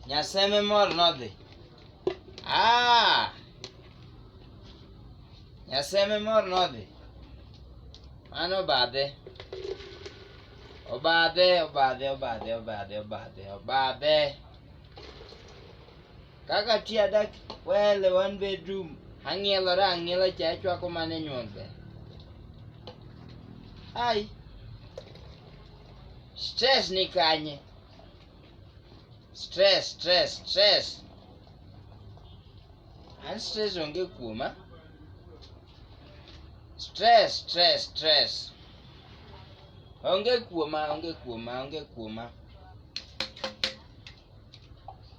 Nyaseme mor nodhi. Ah! Nyaseme mor nodhi. Mano obadhe. Obadhe, obadhe, obadhe, obadhe, obadhe, obadhe. Kaka ti adak wele one bedroom ang'ielora ang'iela cha achwako mana e nyuol be. Ai. Stress ni kanye. stress stress stress an stress onge kuoma stress stress stress onge kuoma onge kuoma onge kuoma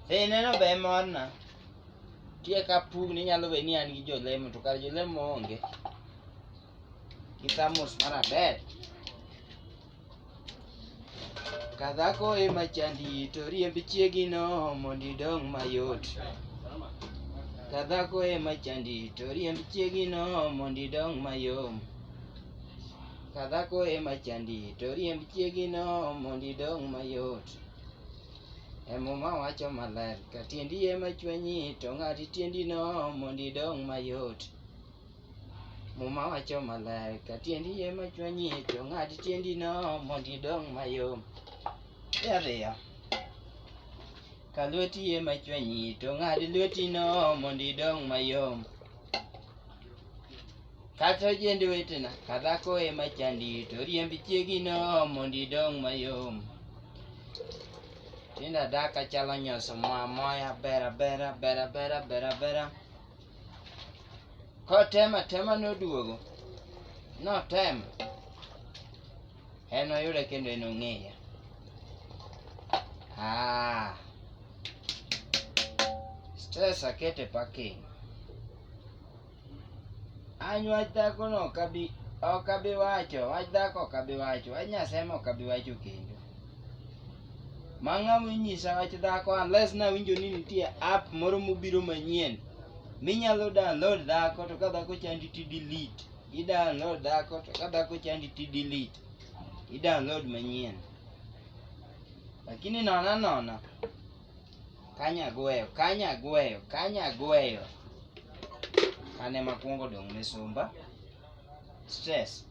ineno be morna tie ka pugni nyalo be ni an gi jolemo to kar jolemo onge Kitamus mara ber. Kadhako ema chandi to riemb chiegino mondo idong mayot. Kadhako ema chandi to riemb chiegino mondo idong mayom. Kadhako ema chandi to riemb chiegino mondo idong mayot. Emuma wacho maler ka tiendi ema chwenyi to ng'ad tiendino mondo idong mayot. Muma wacho maler, ka tiendi yie ma chwanyi, to ng'ad tiendino mondo idong mayom. E ariyo, ka lweti yie ma chwanyi, to ng'ad lwetino mondo idong mayom. Kata ojend wetena, ka dhako ema chandi, to riemb chiegino mondo idong mayom. Tinda daka chalo nyoso moa moya, bera bera, bera bera, bera bera. Kotemo atema noduogo. Notemo. En oyude kendo en ong'eya. Ah. Stress akete parking. Any wach dhakono ok abi wacho, wach dhako ok abi wacho, wach Nyasaye ok abi wacho kendo. Mang'a minyisa wach dhako unless nawinjo ni nitie app moro mobiro manyien minyalo download dhako to ka dhako chandi ti delete. I download dhako to ka dhako chandi ti delete. I download manyien. Lakini nona nona kanya gweyo kanya gweyo kanya gweyo. Kane makwongo dong' misumba stress.